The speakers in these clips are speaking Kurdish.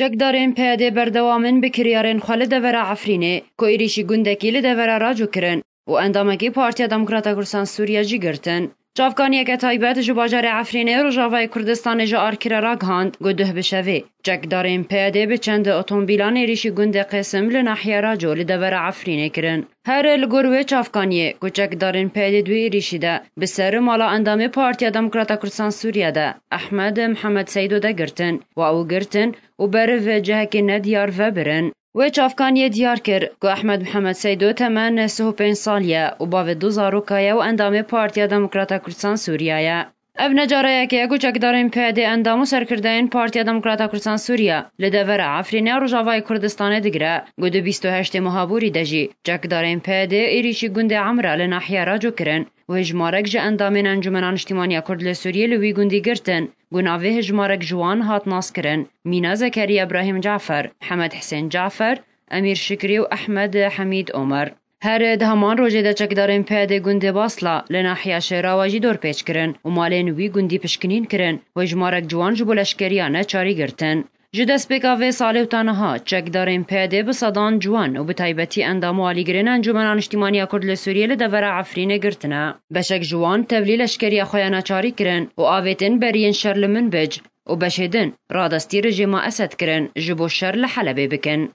Çekdarên PYD berdewam in bi kiryarên xwe li devera Efrînê ku êrîşî gundekî li devera Raco kirin û endamekî Partiya Demokrata Kurdistan Sûriye jî girtin. Çavkaniyeke taybet ji bajarê Efrînê Rojavayê Kurdistanê ji Arkirê ra gihand ku duh bi şevê çekdarên PYD bi çend otombîlan êrîşî gundê Qêsim li nahiya Raco li devera Efrînê kirin. Here li gor wê çavkaniyê ku çekdarên PDDU êrîşî de bi ser mala endamê Partiya Demokrata Kurdistan Sûriye de Ehmed Mihemed Seydo de girtin wa û girtin û beriv cihekî ne diyar vebirin. Wê çavkaniyê diyar kir ku Ehmed Mihemed Seydo temen neh û pênc sal ye û bavê du zaroka ye û endamê Partiya Demokrata Kurdistan Sûriye ye. Ev ne careyekê ye ku çekdarên PYD endam û serkirdeyên Partiya Demokrata Kurdisan Sûriye li devera Efrînê ya Rojavayê Kurdistanê digire ku di bîst û heştê Muhabûrî de jî çekdarên PYD êrîşî gundê Emra li nahiya Raco kirin û hejmarek ji endamên Encûmena Niştîmaniya Kurd li Sûriyê li wî gundî girtin ku navê hejmarek ji wan hat naskirin Mîna Zekeriya Brahîm Cafer Mihemed Hisên Cafer Emîr Şikrî û Ehmed Hemîd Omer. Her di heman rojê de çekdarên PYDê gundê Basla li nahiya Şêrawa jî dorpêç kirin û malên wî gundî pişkinîn kirin. Hojmarek ciwan ji bo leşkeriya neçarî girtin. Ji destpêka vê salê û ta niha, çekdarên PYDê bi sedan ciwan û bi taybetî endam û alîgirên Encûmena Niştîmaniya Kurd li Sûriyê li devera Efrînê girtine. Beşek ji wan tevlî leşkeriya xwe ya neçarî kirin û avêtin beriyên şer li Minbij û beşê din radestî rejêma Esed kirin ji bo şer li Helebê bikin.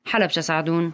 Helebçesahedûn.